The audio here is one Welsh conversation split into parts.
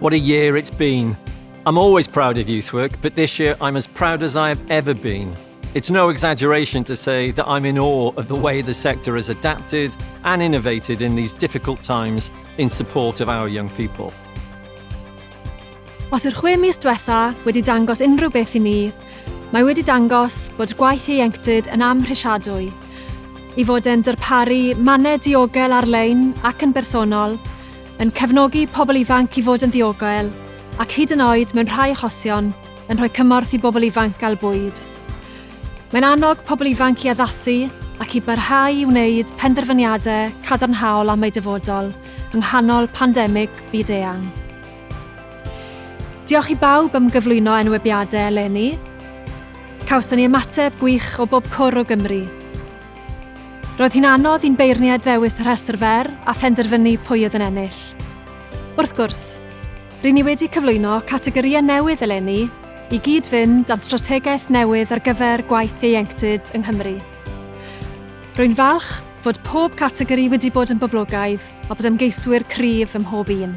What a year it's been. I'm always proud of youth work, but this year I'm as proud as I have ever been. It's no exaggeration to say that I'm in awe of the way the sector has adapted and innovated in these difficult times in support of our young people. Os yw'r chwe mis diwetha wedi dangos unrhyw beth i ni, mae wedi dangos bod gwaith ieuenctid yn amhrisiadwy, i fod e'n darparu mannau diogel ar-lein ac yn bersonol, yn cefnogi pobl ifanc i fod yn ddiogel ac hyd yn oed mewn rhai achosion yn rhoi cymorth i bobl ifanc gael bwyd. Mae'n annog pobl ifanc i addasu ac i barhau i wneud penderfyniadau cadarnhaol am eu dyfodol yng nghanol pandemig byd-eang. Diolch i bawb am gyflwyno enwebiadau eleni. Cawson ni ymateb gwych o bob cwr o Gymru. Roedd hi'n anodd i'n beirniaid ddewis rhestr fer a phenderfynu pwy oedd yn ennill. Wrth gwrs, ry'n ni wedi cyflwyno categorïau newydd eleni i gyd-fynd â'n strategaeth newydd ar gyfer gwaith ieuenctid yng Nghymru. Rwy'n falch fod pob categori wedi bod yn boblogaidd a bod ymgeiswyr cryf ym mhob un.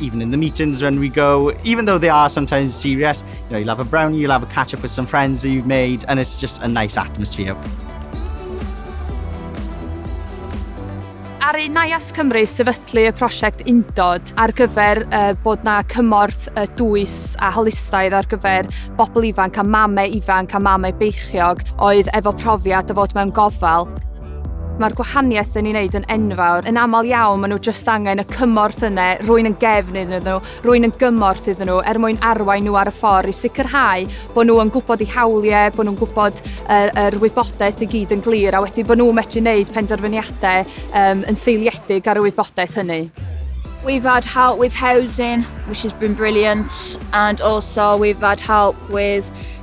even in the meetings when we go, even though they are sometimes serious, you know, you'll have a brownie, you'll have a catch up with some friends that you've made, and it's just a nice atmosphere. Ar ei Naias Cymru sefydlu y prosiect Undod ar gyfer uh, bod na cymorth uh, dwys a holistaidd ar gyfer bobl ifanc a mamau ifanc a mamau beichiog oedd efo profiad o fod mewn gofal Mae'r gwahaniaeth dyn ni'n neud yn enfawr. Yn aml iawn, maen nhw just angen y cymorth yna, rwy'n yn gefn iddyn nhw, rwy'n yn gymorth iddyn nhw, er mwyn arwain nhw ar y ffordd i sicrhau bod nhw yn gwybod eu hawliau, bod nhw'n gwybod yr, yr wybodaeth i gyd yn glir, a wedyn bod nhw'n medru wneud penderfyniadau um, yn seiliedig ar y wybodaeth hynny. We've had help with housing, which has been brilliant, and also we've had help with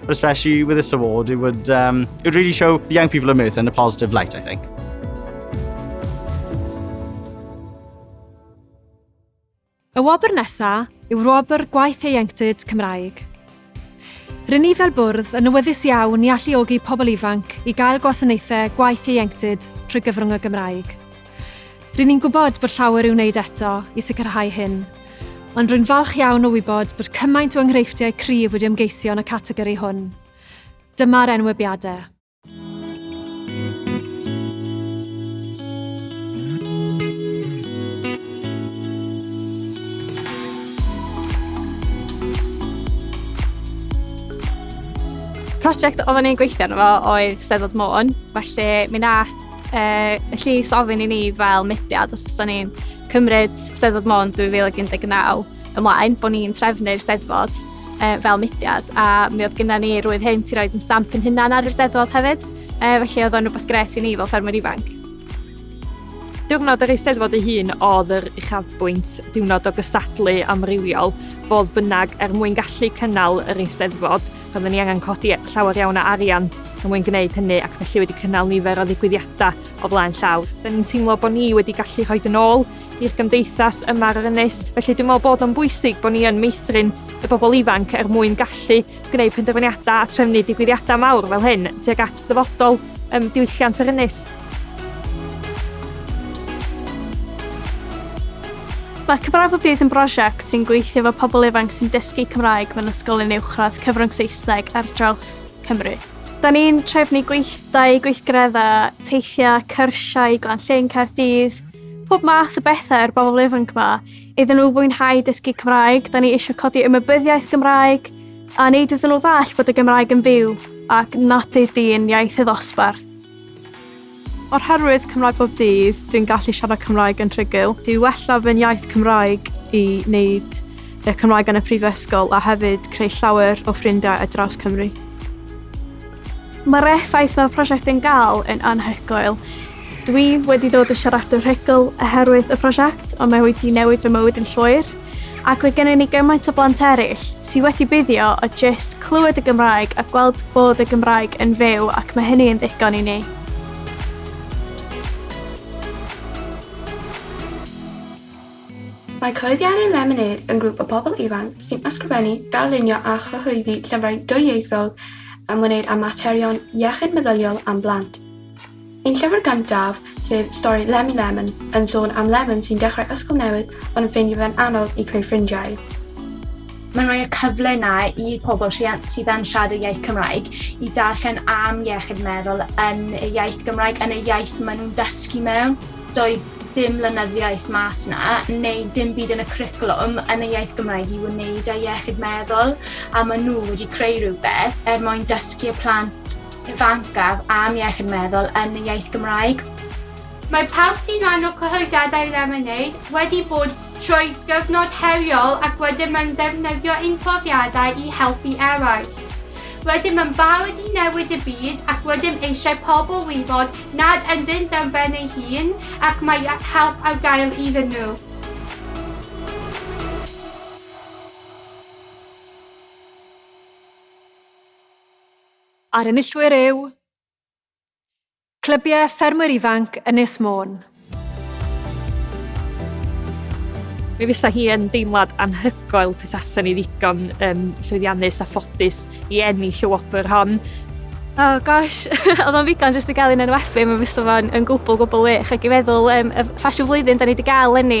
But especially with this award, it would, um, it would really show the young people of Merthyr in a positive light, I think. Y wobr nesaf yw wobr gwaith ieuenctid Cymraeg. Rydyn ni fel bwrdd yn nywyddus iawn i alluogi pobl ifanc i gael gwasanaethau gwaith ieuenctid trwy gyfrwng y Gymraeg. Rŷn ni'n gwybod bod llawer i'w wneud eto i sicrhau hyn, ond rwy'n falch iawn o wybod bod cymaint o enghreifftiau cryf wedi ymgeisio yn y categori hwn. Dyma'r enwebiadau. Prosiect oedden ni'n gweithio arno fo oedd Steddfod Môn, felly mi wnaeth uh, y llys ofyn i ni fel mudiad os byddwn ni'n cymryd Steddfod Mon 2019 ymlaen, bod ni'n trefnu'r Steddfod uh, fel mudiad a mi oedd gyda ni rwydd hyn i roed yn stamp yn hynna ar y Steddfod hefyd, uh, felly oedd o'n rhywbeth gret i ni fel ffermwyr ifanc. Diwrnod yr Eisteddfod ei hun oedd yr uchafbwynt diwrnod o gystadlu amrywiol, fodd bynnag er mwyn gallu cynnal yr Eisteddfod, Roedden ni angen codi llawer iawn o arian er mwyn gwneud hynny ac felly wedi cynnal nifer o ddigwyddiadau o flaen llawr. Rydyn ni'n teimlo bod ni wedi gallu rhoi yn ôl i'r gymdeithas yma ar yr ynys, felly dwi'n meddwl bod o'n bwysig bod ni yn meithrin y bobl ifanc er mwyn gallu gwneud penderfyniadau a trefnu digwyddiadau mawr fel hyn tuag at ddyfodol diwylliant yr ynys. Mae Cymraeg Bob Dydd yn brosiect sy'n gweithio efo pobl ifanc sy'n dysgu Cymraeg mewn ysgolion uwchradd cyfrwng Saesneg ar draws Cymru. Da ni'n trefnu gweithdai, gweithgareddau, teithiau, cyrsiau, Glanllyn, Caerdydd, pob math o bethau i'r bobl ifanc yma. Iddyn nhw fwynhau dysgu Cymraeg, da ni eisiau codi ymwybyddiaeth Gymraeg a wneud iddyn nhw ddall bod y Gymraeg yn fyw ac nad ydy yn iaith y ddosbarth. Oherwydd Cymraeg Bob Dydd, dwi'n gallu siarad Cymraeg yn rhugl. Dwi wella fy nyaith Cymraeg i wneud y Cymraeg yn y prifysgol a hefyd creu llawer o ffrindiau ar draws Cymru. Mae'r effaith mae'r prosiect yn gael yn anhygoel. Dwi wedi dod yn siaradwr rhugl oherwydd y prosiect ond mae wedi newid fy mywyd yn llwyr. ac mae gennym ni gymaint o blant eraill sydd wedi buddio o jyst clywed y Gymraeg a gweld bod y Gymraeg yn fyw ac mae hynny yn ddigon i ni. Mae Clyddiau'r Lemonêd yn grŵp o bobl ifanc sy'n ysgrifennu, darlunio a chyhoeddi llyfrau dwyieithog ymwneud â materion iechyd meddyliol am blant. Ein llyfr gyntaf, sef stori Lemmy Lemon, yn sôn am Lemon sy'n dechrau ysgol newydd ond yn ffeindio fe'n anodd i creu ffrindiau. Mae'n rhoi y cyfle yna i pobl rhiant sydd yn siarad y iaith Cymraeg i darllen am iechyd meddwl yn y iaith Gymraeg, yn y iaith maen nhw'n dysgu mewn. Doedd dim lenyddiaeth mas na, neu dim byd yn y cwricwlwm yn y iaith Gymraeg i wneud â iechyd meddwl, a maen nhw wedi creu rhywbeth er mwyn dysgu y plant ifancaf am iechyd meddwl yn y iaith Gymraeg. Mae pawb sy'n rhan o cyhoeddiadau Lemonade wedi bod trwy gyfnod heriol ac rydym yn ddefnyddio ein profiadau i helpu eraill. Rydym yn barod i newid y byd ac rydym eisiau pobl wybod nad ynddynt ar ben eu hun ac mae help ar gael iddyn nhw. A'r enillwyr yw Clybiau Ffermwyr Ifanc Ynys Môn. Mi fysa hi yn deimlad anhygoel petasa ni ddigon um, llwyddiannus a ffodus i ennill y wobr hon. Oh gosh, oedd o'n ddigon jyst i gael un enwebu, mae fysa fo'n yn gwbl gwbl wych ac i feddwl um, y ffasiwn flwyddyn da ni wedi gael lenni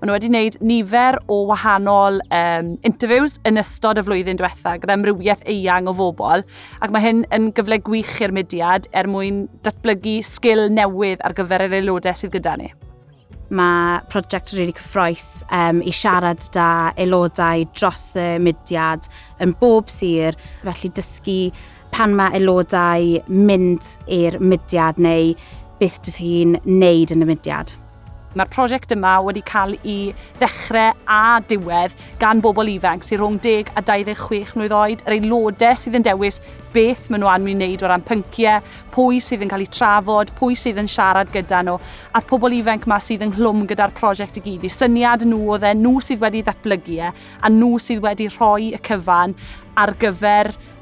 Maen nhw wedi gwneud nifer o wahanol um, interviews yn ystod y flwyddyn diwetha gyda amrywiaeth eang o fobl ac mae hyn yn gyfle gwych i'r mudiad er mwyn datblygu sgil newydd ar gyfer yr aelodau sydd gyda ni. Mae prosiect rili really cyffroes um, i siarad da aelodau dros y mudiad yn bob sir, felly dysgu pan mae aelodau mynd i'r mudiad neu beth dych chi'n neud yn y mudiad. Mae'r prosiect yma wedi cael ei ddechrau a diwedd gan bobl ifanc sy'n rhwng 10 a 26 mlwydd oed, yr aelodau sydd yn dewis beth maen nhw am ei wneud o ran pynciau, pwy sydd yn cael eu trafod, pwy sydd yn siarad gyda nhw, a'r pobl ifanc yma sydd ynghlwm gyda'r prosiect i gyd. Y syniad nhw oedd e, nhw sydd wedi ddatblygu e, a nhw sydd wedi rhoi y cyfan ar gyfer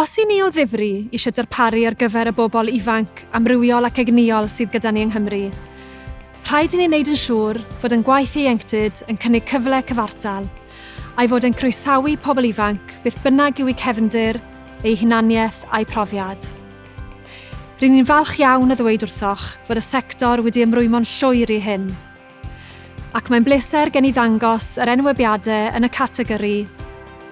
Os y'n ni o ddifri eisiau darparu ar gyfer y bobl ifanc, amrywiol ac egnïol sydd gyda ni yng Nghymru, rhaid i ni wneud yn siŵr fod ein gwaith ieuenctid yn cynnig cyfle cyfartal, a'i fod e'n croesawu pobl ifanc beth bynnag yw'u cefndir, eu hunaniaeth a'u profiad. Ry'n ni'n falch iawn o ddweud wrthoch fod y sector wedi ymrwymo'n llwyr i hyn. Ac mae'n bleser gen i ddangos yr enwebiadau yn y categori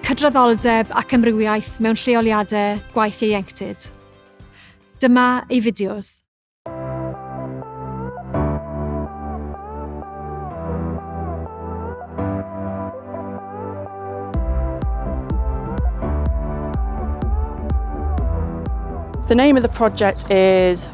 Cydraddoldeb ac Amrywiaeth mewn Lleoliadau Gwaith Ieuenctid. Dyma ei fideos. The name of the project is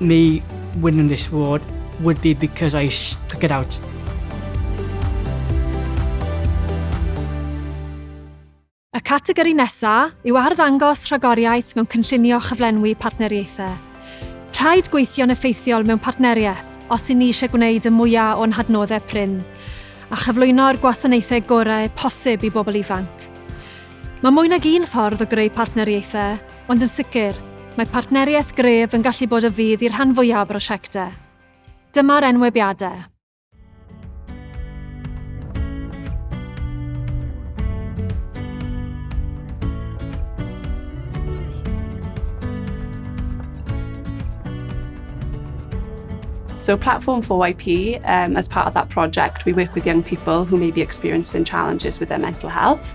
Me winning this award would be because I stuck it out. Y categori nesaf yw arddangos rhagoriaeth mewn cynllunio chyflenwi partneriaethau. Rhaid gweithio'n effeithiol mewn partneriaeth os i ni eisiau gwneud y mwyaf o'n hadnoddau prin a chyflwyno'r gwasanaethau gorau posib i bobl ifanc. Mae mwy nag un ffordd o greu partneriaethau, Ond yn sicr, mae partneriaeth gref yn gallu bod o fudd i'r rhan fwyaf o brosiectau. Dyma'r enwebiadau. So Platform 4YP, um, as part of that project, we work with young people who may be experiencing challenges with their mental health.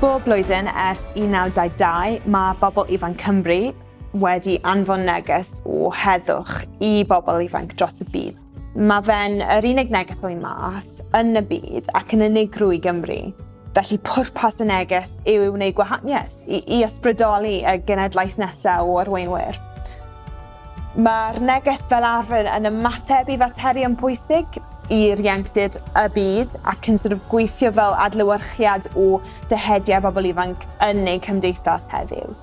Bob blwyddyn ers 1922, mae bobl ifanc Cymru wedi anfon neges o heddwch i bobl ifanc dros y byd. Mae fe'n yr unig neges o'i math yn y byd ac yn unigryw i Gymru. Felly pwrpas y neges yw i wneud gwahaniaeth, i, i ysbrydoli y genedlaeth nesaf o arweinwyr. Mae'r neges fel arfer yn ymateb i faterion pwysig i'r ieuenctid, y byd, ac yn sort of gweithio fel adlewyrchiad o dyheadau pobl ifanc yn ein cymdeithas heddiw.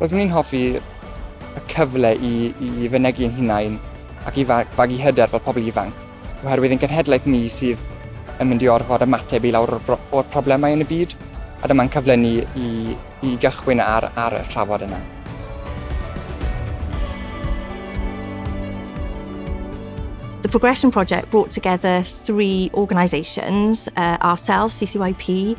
Roeddwn i'n hoffi y cyfle i i fynegi'n hunain ac i fagu hyder fel pobl ifanc. oherwydd ein cenhedlaeth ni sydd yn mynd i orfod ymateb i lawr o'r problemau yn y byd, a dyma'n cyfle ni i, i gychwyn ar, ar y trafod yna. The Progression Project brought together three organisations, uh, ourselves, CCYP,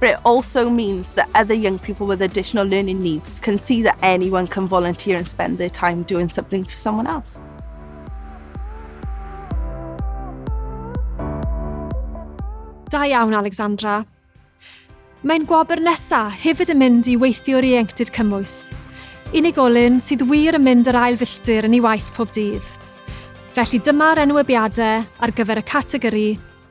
but it also means that other young people with additional learning needs can see that anyone can volunteer and spend their time doing something for someone else. Da iawn, Alexandra. Mae'n gwobr nesaf hefyd yn mynd i weithiwr ieuenctid cymwys. Unigolyn sydd wir yn mynd yr ail filltir yn ei waith pob dydd. Felly dyma'r enwebiadau ar gyfer y categori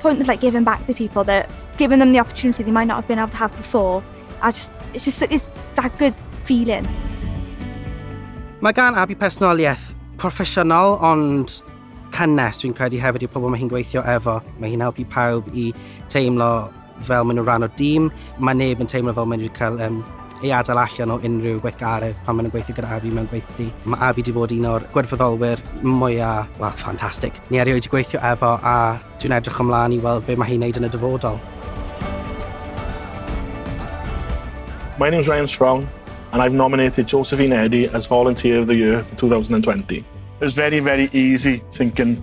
point of like giving back to people that giving them the opportunity they might not have been able to have before. I just, it's just it's that good feeling. Mae gan Abi personoliaeth proffesiynol ond cynnes dwi'n credu hefyd i'r pobl mae hi'n gweithio efo. Mae hi'n helpu pawb i teimlo fel maen nhw'n rhan o dîm. Mae neb yn teimlo fel maen nhw'n cael um, ei adael allan o unrhyw gweithgaredd pan maen nhw'n gweithio gyda Avi mewn gweithdy. Mae Avi wedi bod un o'r gwirfoddolwyr mwyaf, wel, ffantastig. Ni erioed wedi gweithio efo a dwi'n edrych ymlaen i weld beth mae hi'n wneud yn y dyfodol. My name's Ryan Strong and I've nominated Josephine Eddy as Volunteer of the Year for 2020. It was very, very easy thinking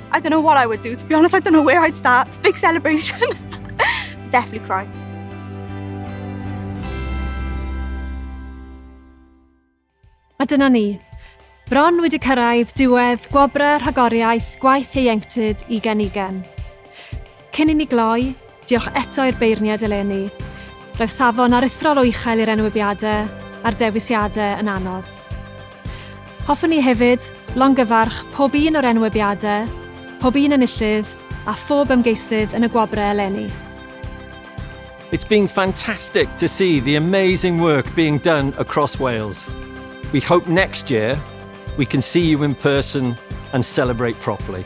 I don't know what I would do, to be honest, I don't know where I'd start. Big celebration. Definitely cry. A dyna ni. Bron wedi cyrraedd diwedd gwobrau rhagoriaeth gwaith ieuenctid i Genigen. Cyn i ni gloi, diolch eto i'r beirniaid eleni. Roedd safon aruthrol o uchel i'r enwebiadau a'r dewisiadau yn anodd. Hoffwn ni hefyd longyfarch pob un o'r enwebiadau, pob un enillydd a phob ymgeisydd yn y gwobrau eleni. It's been fantastic to see the amazing work being done across Wales. We hope next year we can see you in person and celebrate properly.